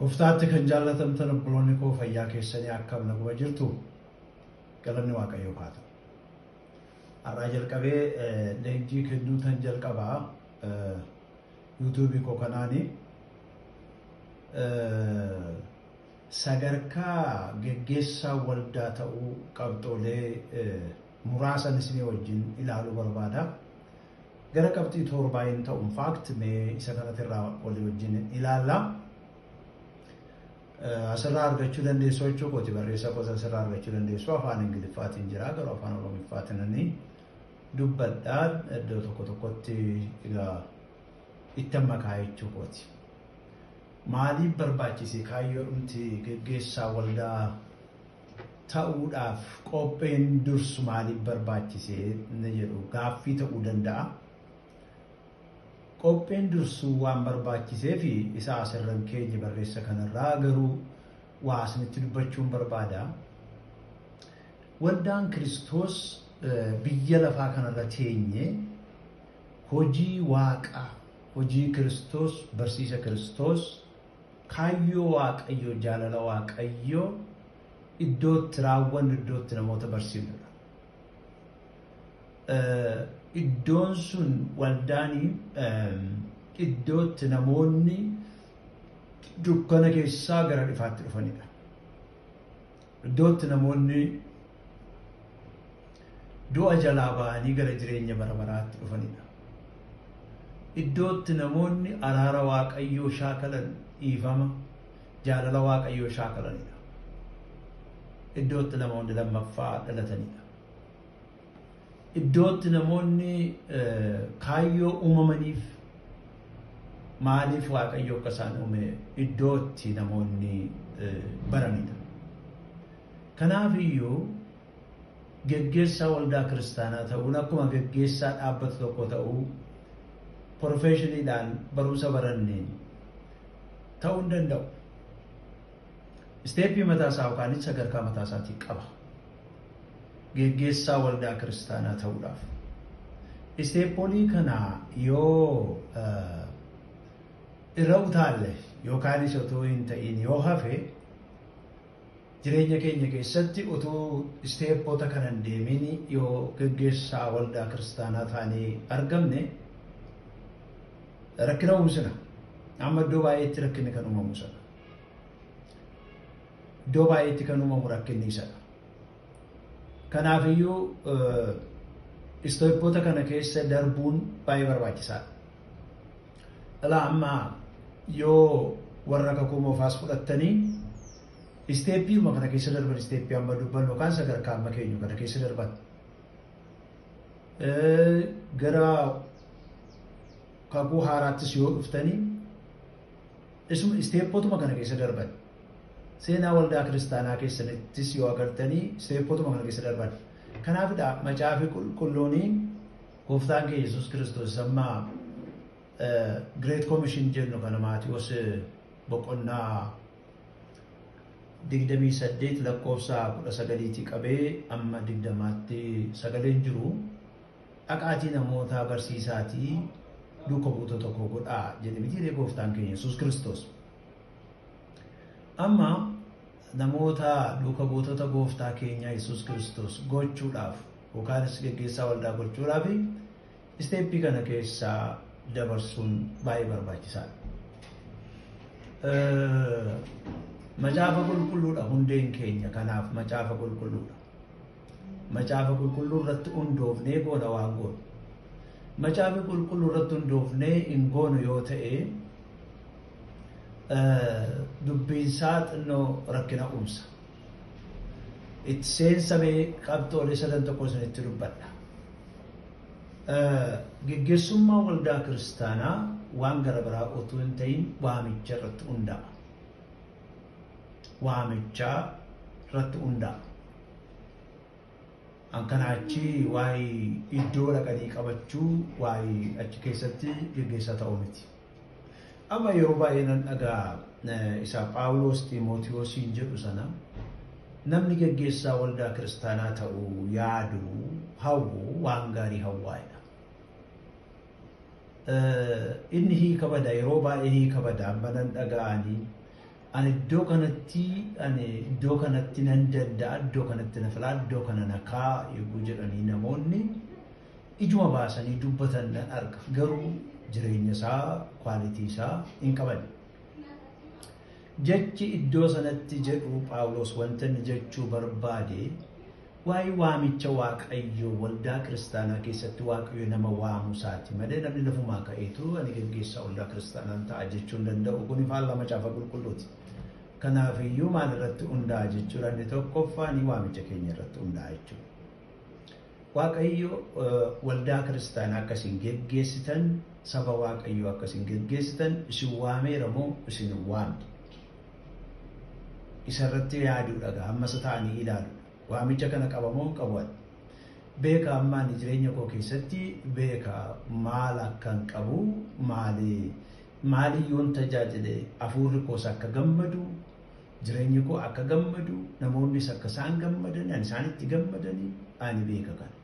Goftaatti kan jaallatamtan obboloonni koo fayyaa keessanii akkam naguma jirtu galanni waaqayyoo haa ta'u. Har'aa jalqabee leenjii kennuu tan jalqabaa yuutuubii koo kanaani sadarkaa geggeessaa waldaa ta'uu qabxoolee muraasan isinii wajjin ilaaluu barbaada. Gara qabxii toorbaa hin ta'u in fact mee isa kanatti irraa walii wajjin ilaalla. Asirraa argachuu dandeessu jechuu kooti barreessaa koota asirraa argachuu dandeessu afaan ingiliffaatiin jira garuu afaan oromiffaatiinanii dubbadhaa iddoo tokko tokkotti egaa ittan makaa jechuu kooti. Maaliif barbaachise? Kaayyoodhumti geggeessaa waldaa ta'uudhaaf qopheen dursu maaliif barbaachise inni jedhu gaaffii ta'uu danda'a. Qopheen dursuu waan barbaachiseef isa asirran keenye barreessa kanarraa garuu waa isinitti dubbachuun barbaada. Waldaan Kiristoos biyya lafaa kanarra teenye Hojii Waaqaa, hojii Kiristoos, barsiisa Kiristoos, kaayyoo Waaqayyoo, jaalala Waaqayyoo iddoo itti raawwannu, iddoo itti namoota barsiifnudha. Iddoon sun waldaan iddoo itti namoonni dukkana keessaa gara ifaatti dhufanidha. Iddoo itti namoonni du'a jalaa ba'anii gara jireenya bara baraatti dhufanidha. Iddoo itti namoonni araara Waaqayyoo shaakalan dhiifama jaalala Waaqayyoo shaakalanidha. Iddoo itti namoonni lammaffaa dhalatanidha. Iddootti namoonni kaayyoo uumamaniif maaliif waaqayyo akka isaan uume iddootti namoonni baranidha. Kanaaf iyyuu geggeessaa waldaa kiristaanaa ta'uun akkuma geggeessaa dhaabbata tokko ta'uu porofeeshiniidhaan barumsa baranneen ta'uu hin danda'u. Isteeppii mataa isaa yookaan sadarkaa mataa isaatii qaba. Geggeessaa waldaa kiristaanaa ta'uudhaaf. Isteeppoolii kana yoo irra utaalle yookaan isa otoo hin ta'iin yoo hafe jireenya keenya keessatti utuu isteeppoota kana hin deemin yoo geggeessaa waldaa kiristaanaa taanee argamne rakkina uumsina. Amma iddoo baay'eetti rakkinni kan uumamu sana. Iddoo baay'eetti kan uumamu rakkinni isadha. Kanaafiyyuu istooppoota kana keessa darbuun baay'ee barbaachisaadha. Dhala ammaa yoo warra kakuu moofaas fudhattanii isteeppiima kana keessa darban isteeppii amma dubbannu yookaan sadarkaa amma keenyu kana keessa darban. Gara kakuu haaraattis yoo dhuftanii Isuma isteeppotuma kana keessa darban. Seenaa waldaa kiristaanaa keessanittis yoo agartanii isteeppotuma kana keessa darban. Kanaafidha macaafi qulqulluuni gooftaan kee Yesuus Kiristoos amma Great Commission jennu kana Maatiyoos boqonnaa digdamii saddeet lakkoofsa kudha sagaliitii qabee amma digdamaatti sagaleen jiru. Dhaqaatii namootaa barsiisaatii duuka buutota koo godhaa jedhe mitiiree gooftaan keenya Yesuus Kiristoos. Amma namoota duuka buutota gooftaa keenyaa Yesuus Kiristoos gochuudhaaf yookaanis geggeessaa waldaa gochuudhaaf isteeppii kana keessaa dabarsuun baay'ee barbaachisaadha. Macaafa qulqulluudha hundeen keenya kanaaf macaafa qulqulluudha. Macaafa qulqulluu irratti hundoofnee goona waan goonu. Macaafa qulqulluu irratti hundoofnee hin goonu yoo ta'e dubbiinsaa xinnoo rakkina uumsa. Itti seensamee qabxoolee sadan tokko isinitti dubbadha. Geggeessummaa waldaa kiristaanaa waan gara biraa otoo hin ta'in waamicha irratti hundaa'a. Waamichaa irratti hundaa'a. An kana achi waa'ee iddoo dhaqanii qabachuu waa'ee achi keessatti geggeessaa ta'uu miti. Amma yeroo baay'ee nan dhagaa isa Phaawulos Ximootiyosiin jedhu sana namni geggeessaa waldaa kiristaanaa ta'uu yaadu hawwu waan gaarii hawwaadha. Inni hiika bada yeroo baay'ee hiika bada amma nan dhaga'anii Ani iddoo kanatti ani iddoo kanatti nan danda'a iddoo kanatti na filaa iddoo kana na kaa yogguu jedhanii namoonni ijuma baasanii dubbatan nan arga garuu jireenya isaa kwaalitii isaa hin qaban. Jechi iddoo sanatti jedhu Phaawulos wanta inni jechuu barbaade Waa'ee waamicha Waaqayyoo waldaa kiristaanaa keessatti Waaqayyo nama waamuu isaati malee namni lafumaa ka'eetu ani geggeessaa waldaa kiristaanaan ta'a jechuu hin danda'u. Kun faallaa macaafa qulqulluuti. Kanaaf iyyuu maal irratti hundaa'a jechuudha inni tokkoffaa ni waamicha keenya irratti hundaa'a jechuudha. Waaqayyo waldaa kiristaanaa akka isin geggeessitan saba Waaqayyoo akka isin geggeessitan isin waameera moo isin waamte? Isa irratti yaaduudha gaa amma isa ta'anii ilaaluudha. Waamicha kana qaba moo hin qabu ani? Beeka amma ani jireenya koo keessatti beeka maal akkan qabu maali maali yoon tajaajile hafuurri koos akka gammadu jireenyi koo akka gammadu namoonnis akka isaan gammadan ani isaanitti gammadanii ani beeka kana.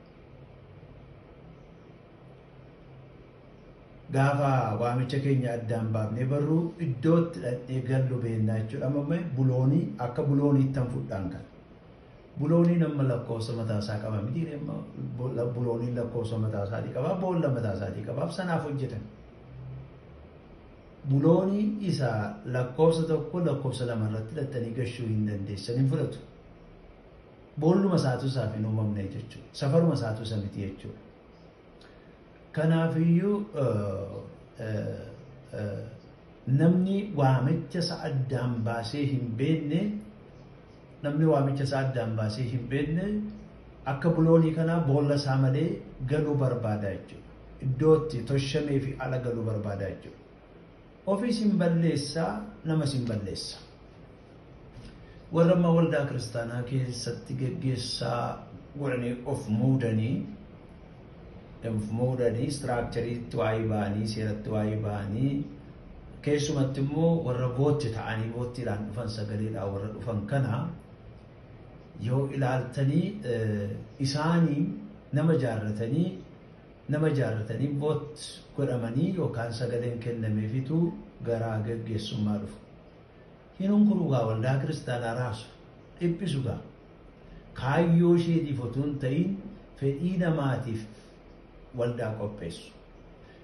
Gaafa waamicha keenya addaan baafnee barru iddootti dhaqnee gallu beennaa jechuudha. Amma buloonii akka bulooniitti han fudhaan kan. Bulooniin amma lakkoofsa mataa isaa qaba miti. Bulooniin lakkoofsa mataa isaatii qaba. Boolla mataa isaatii qabaaf sanaaf hojjetan. Buloonii isa lakkoofsa tokko lakkoofsa lama irratti hidhattanii gashuu hin dandeessan hin fudhatu. Boolluma isaatu isaaf hin uumamne jechuudha. Safaruma isaatu isa miti jechuudha. Kanaafiyyuu namni waamicha isa addaan baasee hin beekne namni waamicha isaa addaan baasee hin beekne akka buloonii kanaa boolla isaa malee galuu barbaada jechuudha. Iddootti toshamee fi ala galuu barbaada jechuudha. Ofiis hin balleessa, namas hin balleessa. Warra amma waldaa kiristaanaa keessatti geggeessaa godhanii of muudanii of muudanii istiraakchariitti waa'ee ba'anii seeratti waa'ee ba'anii keessumatti immoo warra bootti ta'anii boottiidhaan dhufan sagaleedhaan warra dhufan kana yoo ilaaltanii isaanii nama jaarratanii Nama jaalatanii vote godhamanii yookaan sagaleen kennameefitu gara geggeessummaa dhufu. Hin hunkuruu gaa waldaa kiristaanaa raasu, dhiphisu gaa. Kaayyoo isheetiif otuu hin ta'iin fedhii namaatiif waldaa qopheessu.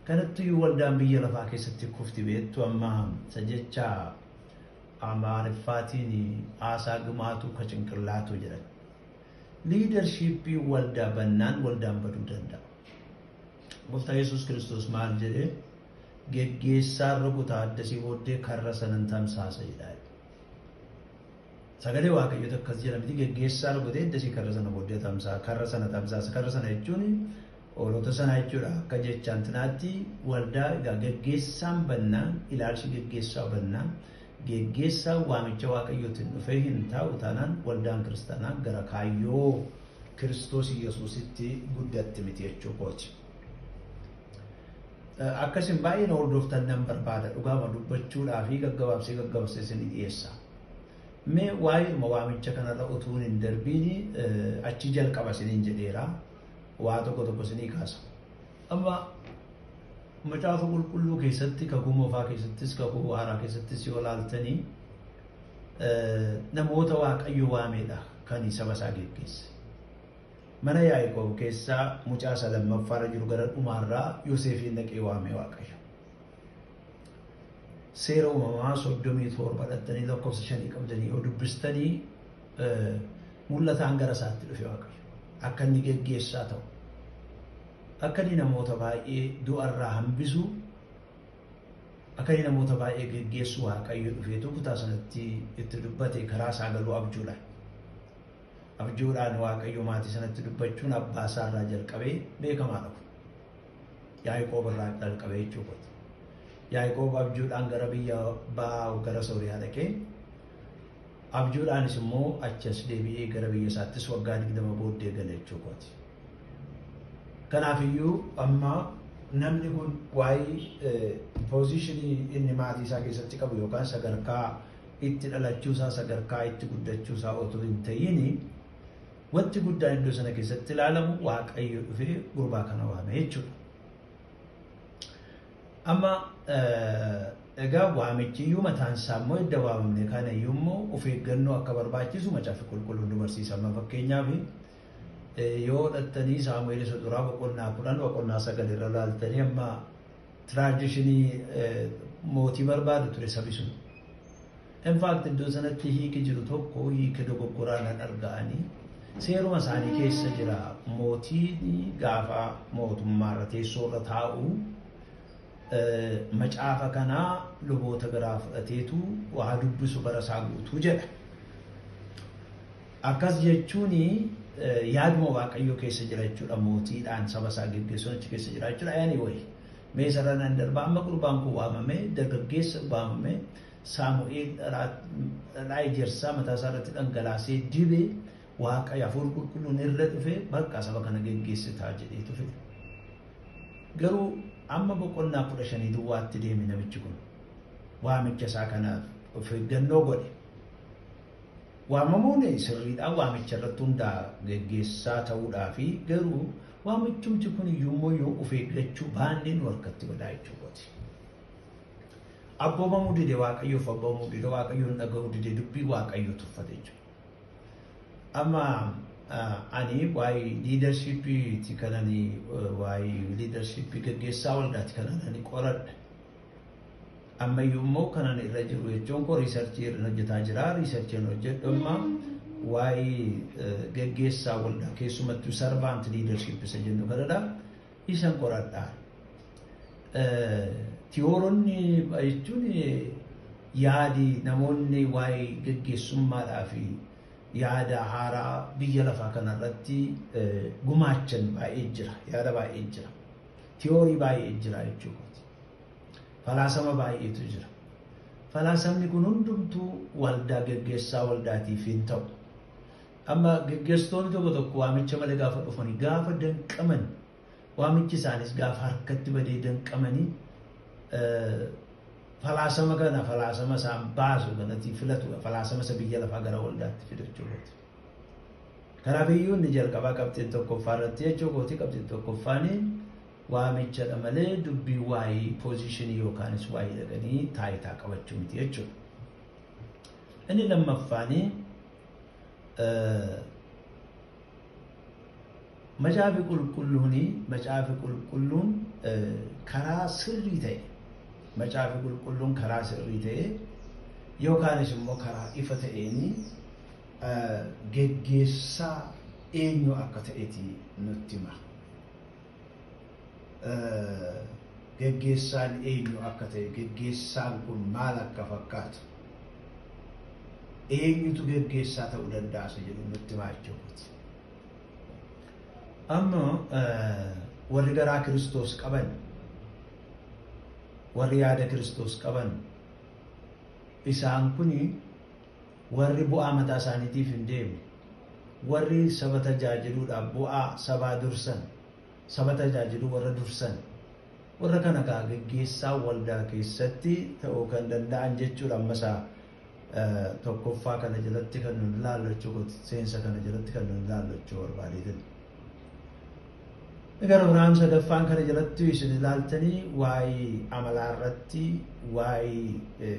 Kanattuyyuu waldaan biyya lafaa keessatti kufti beektu amma isa jecha Amaariffaatiin haasaa dhumaatu ka cinqillaatu jedhan. Liidarshiippiin waldaa bannaan waldaan baduu danda'a. Gooftaa Yesuus Kiristoos maal jedhee geggeessaan rukutaa addasii booddee karra sanan tamsaasa jedhaa. Sagalee waaqayyoota akkas jedha miti geggeessaa rukutee addasii karra sana booddee tamsaa karra sana tamsaasa karra sana jechuun hoolota sanaa jechuudha akka jechaan tinaatti waldaa egaa geggeessaan bannaan ilaalchi geggeessaa bannaan Geggeessaan waamicha Waaqayyootiin dhufee hin taa'u taanaan waldaan kiristaanaa gara kaayyoo Kiristoos Yesuusitti guddatti miti jechuu kooti. Akkasiin baay'ee na hordoftan nan barbaada dhugaama dubbachuudhaa fi gaggabaabsee gaggabaabsee isin dhiyeessa. Mee waa'eedhuma waamicha kanarra utuu hin darbiin achi jalqaba isiniin jedheera waa tokko tokko isinii kaasa. Amma macaafa qulqulluu keessatti kakuu moofaa keessattis kakuu waaraa keessattis yoo laaltanii namoota waaqayyo waameedha kan saba isaa geggeesse. Mana Yaaqoob keessaa mucaa isa lammaffaarra jiru gara dhumaarraa Yoseefiin dhaqee waamee waaqayyo. Seera uumamaa soddomii torba dhattanii lakkoofsa shanii qabdanii yoo dubbistanii Mul'ataan gara isaatti dhufe Waaqayyo akka inni geggeessaa ta'u, akka inni namoota baay'ee du'a irraa hambisu, akka inni namoota baay'ee geggeessu Waaqayyo dhufeetu kutaa sanatti itti dubbate karaa isaa galuu abjuudhaan. Abjuudhaan Waaqayyo maatii sanatti dubbachuun abbaa isaa irraa jalqabee beekamaa dhabu. Yaaqoob irraa jalqabee jechuudha. Yaaqoob abjuudhaan gara biyya ba'aa gara Sooriyaa dhaqee Abjuudhaanis immoo achi as deebi'ee gara biyya isaattis waggaa 20 booddee gale jechuu kooti. Kanaaf iyyuu amma namni kun waa'ee poozishinii inni maatii isaa keessatti qabu yookaan sadarkaa itti dhalachuu isaa sadarkaa itti guddachuu isaa otoo hin ta'in wanti guddaan iddoo sana keessatti ilaalamu waaqayyo dhufee gurbaa kana waame jechuudha. Amma egaa waamichi iyyuu mataan isaa immoo edda waamamne kana iyyuu immoo of eeggannoo akka barbaachisu macaafa qulqulluun nu barsiisa. Amma fakkeenyaaf yoo dhattanii Saamu'eel isa duraa boqonnaa kudhan boqonnaa sagal irra laaltanii amma tiraadishinii mootii barbaadu ture sabi sun. In fact iddoo sanatti hiiki jiru tokko hiika dogoggoraa nan arga ani. Seeruma isaanii keessa jira mootiin gaafa mootummaa irra teessoo irra taa'u eh, macaafa kanaa luboota biraa fudhateetu waa dubbisu bara isaa guutuu jedha. Akkas jechuun eh, yaaduma waaqayyoo keessa jira jechuudha mootiidhaan saba isaa geggeessuun achi keessa jira jechuudha. Anyway, mee sarara nan darba amma gurbaan kun waamame dargaggeessa waamame Saamu'eel dhadhaa ejersaa mataa isaa irratti dhangalaasee dibe, Waaqayyo hafuurri qulqulluun irra dhufe bakka saba kana geggeessitaa jedheetu fide. Garuu amma boqonnaa kudha shanii duwwaatti deeme namichi kun. Waamicha isaa kanaaf of eeggannoo godhe. Waamamuun sirriidhaan waamicha irratti hundaa geggeessaa ta'uudhaa fi garuu waamichumti kun iyyuu immoo yoo of eeggachuu baannee nu harkatti badaa jechuu kooti. Abboomamuu dide waaqayyoof abboomamuu dide waaqayyoon dhaga'uu dide dubbii waaqayyoo tuffate jechuudha. Amma ani waa'ee liidarshiippiiti kan ani waa'ee liidarshiippii gaggeessaa waldaati kan ani qoradhe. Ammayyuu immoo kan ani irra jiru jechuun koo riisarchii irra hojjetaa jira. Riisarchiin hojjedhu amma waa'ee gaggeessaa waldaa keessumattuu sarvaant liidarshiippisa jennu kanadha. isa qoradhaa. Tiyooronni jechuun yaadi namoonni waa'ee gaggeessummaadhaa fi yaada haaraa biyya lafaa kanarratti gumaachan baay'ee jira. Yaada baay'ee jira. Tiyoorii baay'ee jira jechuudha. Falaasama baay'eetu jira. Falaasamni kun hundumtuu waldaa gaggeessaa waldaatiif hin ta'u. Amma geggeessitoonni tokko tokko waamicha malee gaafa dhufanii gaafa danqaman waamichi isaanis gaafa harkatti badee danqamanii falaasama kana falaasama isaan baasu kanatti filatudha. Falaasama isa biyya lafaa gara waldaatti fidachuu irratti. Kanaaf iyyuu inni jalqabaa qabxiin tokkoffaa irratti jechuu kooti qabxiin tokkoffaani waamichadha malee dubbii waa'ee poozishinii yookaanis waa'ee dhaqanii taayitaa qabachuu miti jechuudha. Inni lammaffaani Macaafi qulqulluun macaafi qulqulluun karaa sirrii ta'e macaafi qulqulluun karaa sirrii ta'e yookaanis immoo karaa ifa ta'een geggeessaa eenyu akka ta'eti nutti hima. geggeessaan eenyu akka ta'e, geggeessaan kun maal akka fakkaatu, eenyutu geggeessaa ta'uu danda'a isa jedhu nutti himaa jechuu kooti. Amma warri garaa Kiristoos qaban, warri yaada Kiristoos qaban, isaan kuni Warri bu'aa mataa isaaniitiif hin deemne, warri saba tajaajiluudhaaf bu'aa sabaa dursan, saba tajaajiluu warra dursan, warra kana egaa geggeessaa waldaa keessatti ta'uu kan danda'an jechuudha. Amma isaa tokkoffaa kana jalatti kan nun ilaallu jechuudha. Seensa kana jalatti kan nun ilaallu jechuu barbaadeetin. Gara biraan sadaffaan kana jalatti isin ilaaltanii waa'ee amalaa irratti waa'ee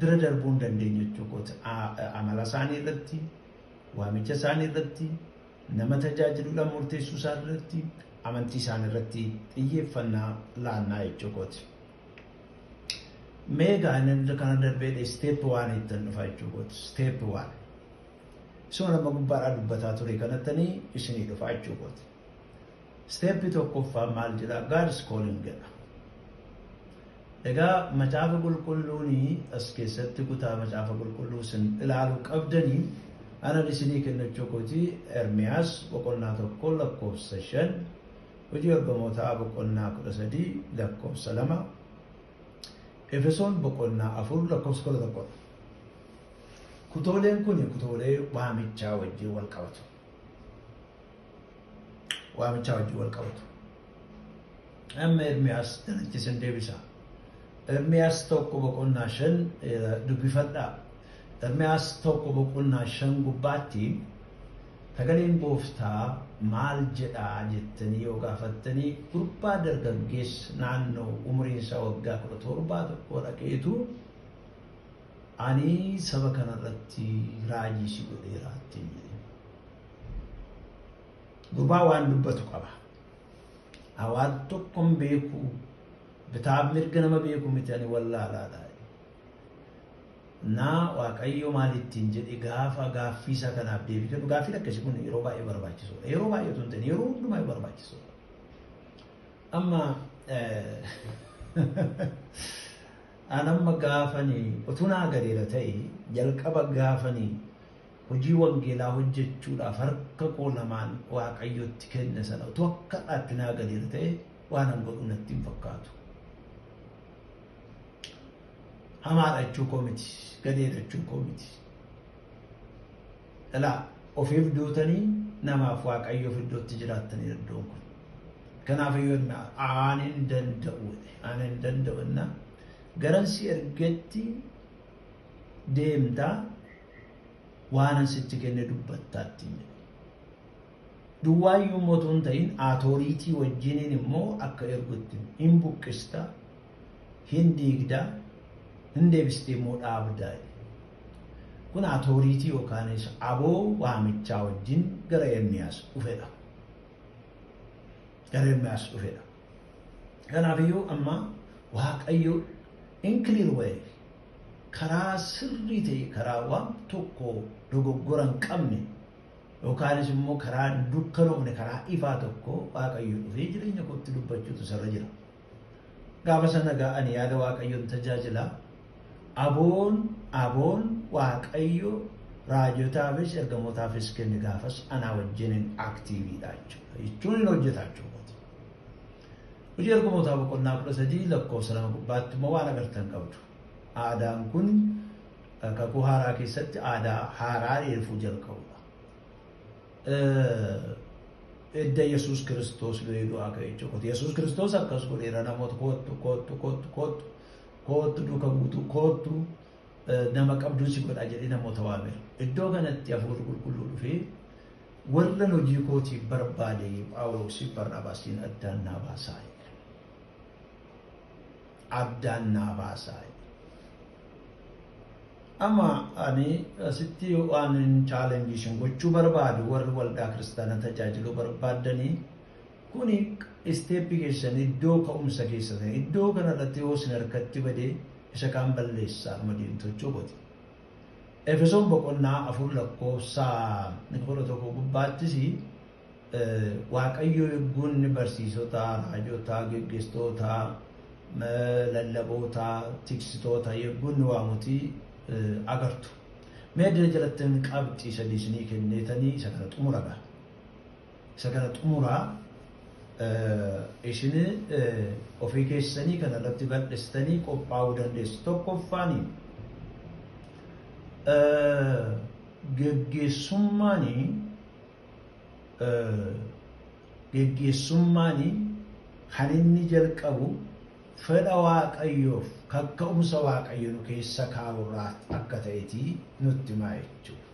bira darbuu hin dandeenye jechuu kooti. Amala isaanii irratti, waamicha isaanii irratti, nama tajaajiluudhaan murteessuu isaanii irratti, amantii isaanii irratti xiyyeeffannaa laannaa jechuu kooti. Mee gaa'elan kana darbee isteep waan ittiin dhufa jechuu kooti. Isteep waan. Isuma nama gubbaadhaa dubbataa ture kanattanii isinii dhufa jechuu kooti. Step tokkoffaan maal jedha? God's calling jedha. Egaa macaafa qulqulluuni as keessatti kutaa macaafa qulqulluu sin ilaalu qabdanii anan isinii kennachuu kooti Ermiyaas boqonnaa tokko lakkoofsa shan hojii ergamootaa boqonnaa kudha sadii lakkoofsa lama Efesoon boqonnaa afur lakkoofsa kudha tokkodha. Kutooleen kun kutoolee waamichaa wajjin wal qabatu. waamichaa wajjin wal qabatu. Amma Ermiyaas kanatti sin deebisa. Ermiyaas tokko boqonnaa shan dubbifadha. Ermiyaas tokko boqonnaa shan gubbaatti sagaleen gooftaa maal jedhaa jettanii yoo gaafattanii gurbaa dargaggeessa naannoo umriin isaa waggaa kudha torbaa tokko dhaqeetu Ani saba kana irratti raajii si godheera ittiin jedhe. Gurbaa waan dubbatu qaba. Hawaan tokkon beeku bitaaf mirga nama beeku miti ani wallaalaadha. Naa waaqayyo maal ittiin jedhe gaafa gaaffii isaa kanaaf deebii kennu gaaffiin akkasii kun yeroo baay'ee barbaachisuudha. Yeroo baay'ee otoo hin ta'in yeroo hundumaa barbaachisuudha. Amma An amma gaafani otuu naa galeera ta'e jalqaba gaafani hojii wangeelaa hojjechuudhaaf harka koo lamaan waaqayyotti kenne sana utuu akka dhaatti naa galeera ta'e waan an godhu natti hin fakkaatu. Hamaadha jechuu koo miti, gadeedha jechuu koo miti. Ilaa ofiif duutanii namaaf waaqayyoof iddootti jiraattanii iddoon kun. Kanaaf iyyuu innaa aan hin danda'u aan hin danda'u innaa garan si ergetti deemtaa waanan sitti kenne dubbattaatti jedhe. Duwwaayyuu immoo otoo hin ta'in aatooriitii wajjiniin immoo akka ergutti hin buqqista hin diigda, hin deebiste immoo dhaabda. Kun atooriitii yookaanis aboo waamichaa wajjin gara Ermiyaas dhufedha. Gara Ermiyaas dhufedha. Kanaaf iyyuu amma Waaqayyo in clear way karaa sirrii ta'e karaa waan tokko dogoggora hin qabne yookaanis immoo karaa hin dukkanoofne karaa ifaa tokko Waaqayyo dhufee jireenya kootti dubbachuutu isarra jira. Gaafa sana egaa ani yaada Waaqayyoon tajaajila. Aboon aboon Waaqayyo raajotaafis ergamootaafis kenne gaafas anaa wajjinin aktiiviidha jechuudha. Jechuun hin hojjetaa jechuudha. Hojii ergamootaa boqonnaa kudha sadii lakkoofsa lama gubbaatti immoo waan agartan qabdu. Aadaan kun kakuu haaraa keessatti aadaa haaraa reefuu jalqabudha. edda Yesuus Kiristoos du'ee du'aa ka'e jechuudha. Yesuus Kiristoos akkas godheera namoota koottu koottu koottu koottu koottu duuka buutu koottu nama qabduu si godhaa jedhee namoota waame. Iddoo kanatti hafuurri qulqulluu dhufee warra hojii kootiif barbaade Phaawuloosiif Barnaabaasiin addaan naa baasaa. addaan naa baasaa jedhe. Amma ani asitti waan hin chaalenjii isin gochuu barbaadu warri waldaa kiristaana tajaajiluu barbaaddanii kuni isteeppi keessan iddoo ka'umsa keessan iddoo kanarratti yoo isin harkatti badee isa kaan balleessaa dhuma deemtochuu godhe. Efesoon boqonnaa afur lakkoofsa kudha tokko gubbaattis Waaqayyo yogguunni barsiisotaa, raajotaa, geggeessitootaa, lallabootaa, tiksitoota yogguunni waamuti agartu. Mee addana jalattan qabxii sadii isinii kenneetanii isa kana xumura gaa. Isa kana xumura isin ofii keessanii kana irratti bal'istanii qophaa'uu dandeessu. Tokkoffaani geggeessummaanii Geggeessummaan kan inni jalqabu fedha Waaqayyoof kakka'umsa Waaqayyo nu keessa kaa'u irraa akka ta'eti nutti himaa jechuudha.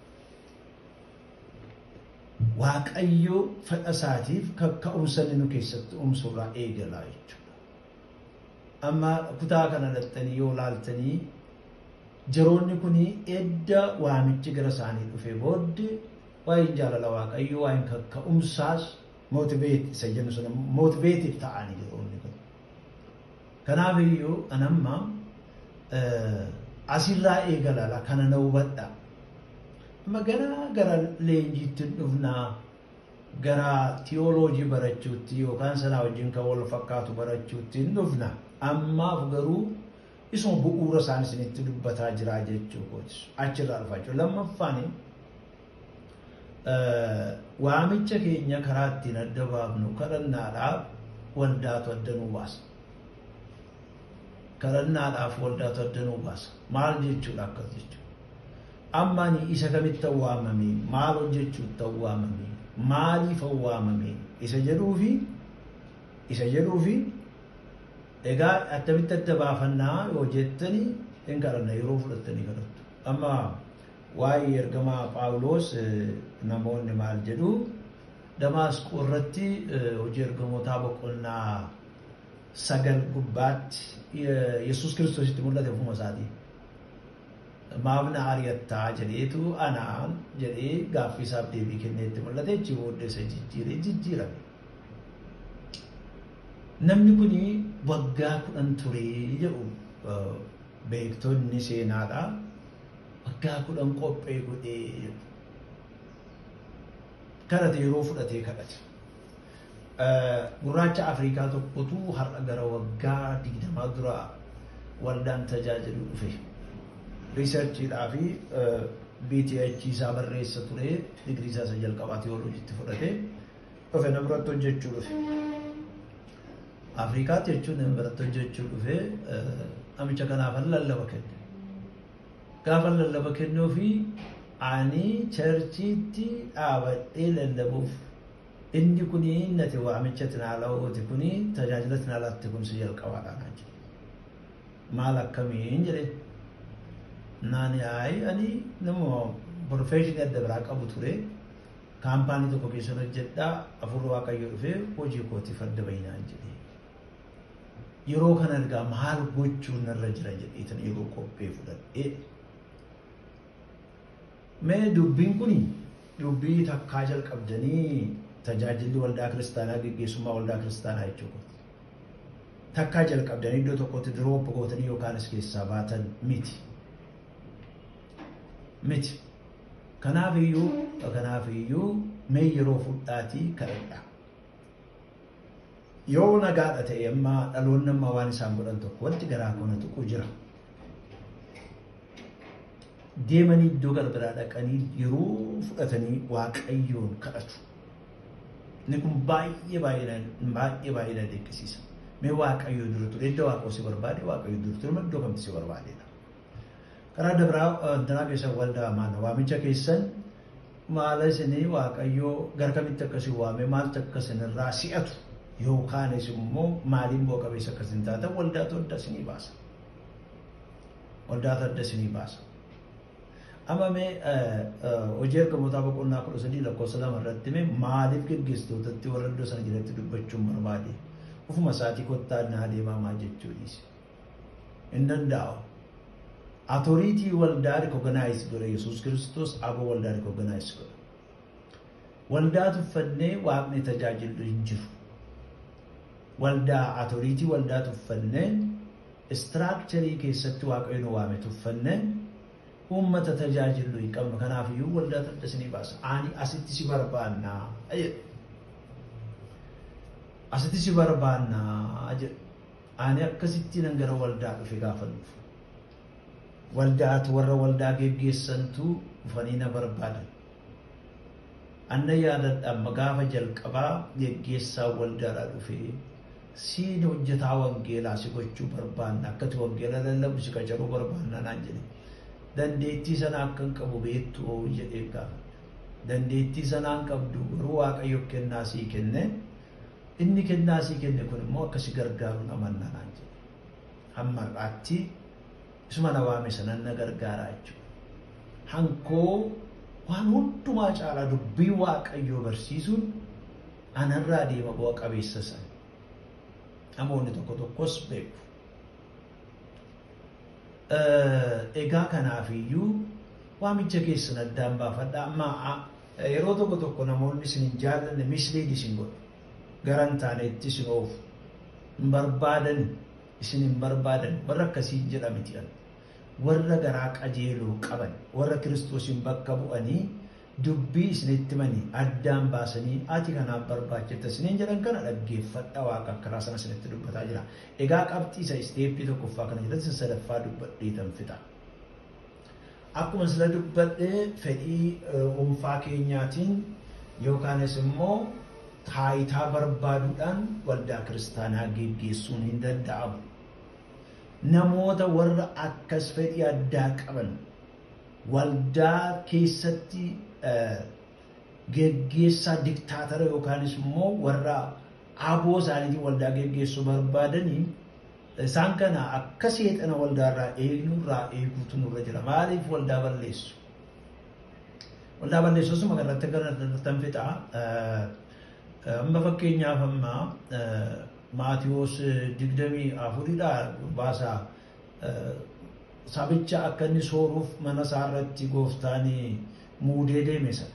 Waaqayyo fedha isaatiif kakka'umsa inni nu keessatti uumsu irraa eegala jechuudha. Amma kutaa kana dhattanii yoo laaltanii jaroonni kun edda waamichi gara isaanii dhufee booddee waa'een jaalala waaqayyoo waa'een kakka'umsaas mootiveet isa jennu sun mootiveetiif ta'anii jaroonni kun. Kanaaf iyyuu an amma asirraa eegalala kana na hubadha. Amma gara gara leenjiitti dhufnaa. gara tiyooloojii barachuutti yookaan sanaa wajjin kan wal fakkaatu barachuutti hin dhufna. Ammaaf garuu isuma bu'uura isaan isinitti dubbataa jiraa jechuu kooti. Achirraa dhufa jechuudha. Lammaffaan waamicha keenya karaa ittiin adda baafnu kadhannaadhaaf waldaatu adda nu baasa. Kadhannaadhaaf waldaatu adda nu baasa. Maal jechuudha akkas jechuudha. Amma ani isa kamittan waamame, maal hojjechuuttan waamame, maaliifan waamame isa jedhuufi isa jedhuufi egaa attamitti adda baafanna yoo jettanii hin kadhanna yeroo fudhattanii kadhattu. Amma waa'ee ergamaa Phaawulos namoonni maal jedhu Damaasqoo irratti hojii ergamootaa boqonnaa sagal gubbaatti Yesuus Kiristoositti mul'ate ofuma isaatii. Maaf na ari'atta? jedheetu anaan jedhee gaaffii isaaf deebii kennee itti mul'ate achi booddee isa jijjiiree jijjiirame. Namni kun waggaa kudhan ture jedhu beektonni seenaadha. Waggaa kudhan qophee godhee jedhu. Kadhate yeroo fudhatee kadhate. Gurraacha Afriikaa tokkotu har'a gara waggaa digdamaa dura waldaan tajaajilu dhufe. Riisarchiidhaa fi BTH isaa barreessa ture digirii isaa isa jalqabaa tiyooloojiitti fudhate dhufe na biratti hojjechuu dhufe. Afriikaatti jechuun na biratti hojjechuu dhufe namicha kanaafan lallaba kenne. Gaafa lallaba kennuu fi ani charchiitti dhaabadhee lallabuuf Inni kuni nati waamicha tinaala'ooti kuni tajaajila tinaalaatti kun si jalqabaadha naan jedhe. Maal akkamiin jedhe naani ayi ani nama profeshinii adda biraa qabu ture kaampaanii tokko keessan hojjedha afurri waaqayyo dhufee hojii kootiif adda bahi naan jedhe. Yeroo kana ergaa maal gochuun narra jira jedheetan yeroo qophee fudhadhee Mee dubbiin kun dubbii takkaa jalqabdanii tajaajilli waldaa kiristaanaa geggeessummaa waldaa kiristaanaa jechuu kooti. Takkaa jalqabdanii iddoo tokkotti diroop gootanii yookaanis keessaa baatan miti. Miti. Kanaaf iyyuu kanaaf iyyuu mee yeroo fudhaatii kadhadhaa. Yoo nagaadha ta'e amma dhaloonni amma waan isaan godhan tokko wanti garaa koo na tuqu jira. deemanii iddoo garagaraa dhaqanii yeroo fudhatanii waaqayyoon kadhatu. Inni kun baay'ee baay'ee baay'ee baay'ee na dinqisiisa. Mee waaqayyoo dura ture iddoo waaqoo si barbaade waaqayyoo dura ture iddoo kamti si barbaadedha. Karaa dabraa danaa keessa waldaa maana waamicha keessan Maala isinii Waaqayyoo gara kamitti akka isin waamee maaltu akka isin irraa si'atu yookaanis immoo maaliin bu'a qabeessa akka isin taatan waldaatu adda isinii baasa. Waldaatu adda isinii baasa. Amma mee hojii ergamootaa boqonnaa kudha sadii lakkoofsa lama irratti mee maaliif geggeessitootatti warra iddoo sana jiratti dubbachuun barbaade ofuma isaatii kottaa naa deemaa maal jechuu dhiise. hin danda'u. Atoriitii waldaa rikoganaayiz godha Yesuus Kiristoos aboo waldaa rikoganaayiz godha. Waldaa tuffannee waaqni tajaajillu hin jiru. Waldaa atoriitii waldaa tuffannee istiraakcharii keessatti waaqayyoon waame tuffannee uummata tajaajillu hin qabnu. Kanaaf iyyuu waldaa tadda isinii baasa. Ani asitti si barbaannaa jedhe. Asitti si barbaannaa jedhe. Ani akkasittiinan gara waldaa dhufe gaafan dhufu. Waldaat warra waldaa geggeessantu dhufanii na barbaadan. An na yaadadha amma gaafa jalqabaa geggeessaan waldaadhaa dhufee siin hojjetaa wangeelaa si gochuu barbaanna akkati wangeela lallabu si qacaruu barbaanna naan jedhe. Dandeettii sana akkan qabu beektu oo jedheen gaafadhe. Dandeettii sanaan qabdu garuu waaqayyo kennaa sii kenne Inni kennaa sii kenne kun immoo akka si gargaaru nan amanna naan jedhe. Hamma har'aatti isuma na waame sanan na gargaara jechuudha. Hankoo waan hundumaa caalaa dubbii Waaqayyoo barsiisuun anarraa deema bu'a qabeessa sana. Namoonni tokko tokkos beeku. Egaa kanaafiyyuu waamicha keessan addaan baafadhaa amma Yeroo tokko tokko namoonni isin hin jaallanne mislead isin godhu. Gara hin taaneetti isin oofu. Hin barbaadani. Isin hin barbaadani. Warra akkasii jedha miti kan. Warra garaa qajeeloo qaban, warra Kiristoosiin bakka bu'anii dubbii isinitti himanii addaan baasanii ati kanaaf barbaachifta isiniin jedhan kana dhaggeeffadha waaqa akkaraa sana isinitti dubbataa jira. Egaa qabxii isa isteeppii tokkoffaa kana jalatti isa sadaffaa dubbadheetan fixa. Akkuma sila dubbadhe fedhii dhuunfaa keenyaatiin yookaanis immoo taayitaa barbaaduudhaan waldaa kiristaanaa geggeessuun hin danda'amu. Namoota warra akkas fedhii addaa qaban waldaa keessatti geggeessaa diktaatara yookaanis immoo warra aboo isaaniitiin waldaa geggeessuu barbaadaniin Isaan kana akka seexana waldaa irraa eegnu irraa eeguutu nurra jira. Maaliif waldaa balleessu? Waldaa balleessu osuma kanarratti kanarrattan fixa. Amma fakkeenyaaf amma Maatiwoos digdamii afuridhaa baasaa sabicha akka inni sooruuf mana isaa irratti gooftaan muudee deeme sana.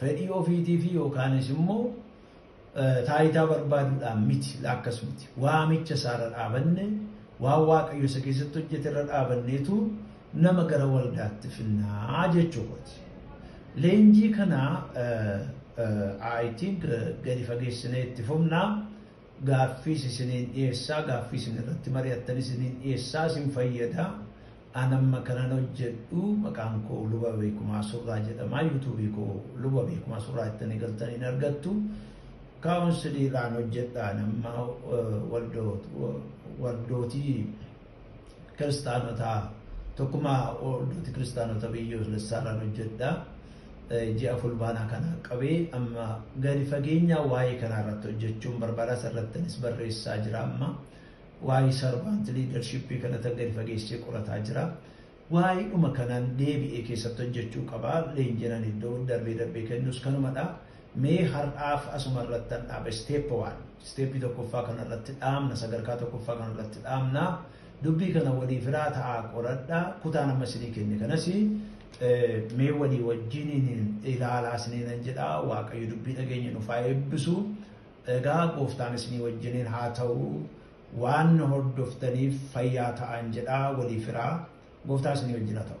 Fedhii ofiitiifi yookaanis immoo taayitaa barbaaduudhaan miti, laakkas miti. Waamicha isaa irra dhaabanne, waan Waaqayyo isa keessatti hojjete irra dhaabanneetu nama gara waldaatti finnaa jechuu kooti. Leenjii kana I think gadi fageessinee itti fufna. gaaffiis isiniin dhiyeessaa, gaaffii isin irratti mari'attan isiniin dhiyeessaa, isin fayyada. An amma kanan hojjedhu maqaan koo Luba Beekumaa Surraa jedhama. Yuutuubii koo Luba Beekumaa Surraa jettanii galtanii hin argattu. Kaawunsilii irraan hojjedha. An amma eh, waldoot- wa- waldootii kiristaanotaa tokkumaa waldooti kiristaanota biyyoolessaarraan hojjedha. Ji'a fulbaanaa kana qabee amma gadi fageenyaa waa'ee kanaa irratti hojjechuun barbaada asirrattinis barreessaa jira amma waa'ee sarvaant liidarshippii kanatti gadi fageessee qorataa jira. Waayidhuma kanan deebi'ee keessatti hojjechuu qaba. Leenjiin ani iddoo darbee darbee kennus kanumadha. Mee har'aaf asuma irrattan dhaaba. Step one. Step tokkoffaa kana irratti dhaabna. Sadarkaa tokkoffaa kana irratti dhaabna. Dubbii kana walii firaa ta'aa qoradha. Kutaan amma isinii kenne kanas mee walii wajjiniin ilaalaa isiniinan jedha. Waaqayyo dubbii dhageenye nuuf haa eebbisu. Egaa gooftaan isinii wajjiniin haa ta'u. Waan na hordoftaniif fayyaa ta'aan jedhaa walii firaa. Gooftaa isinii wajjin haa ta'u.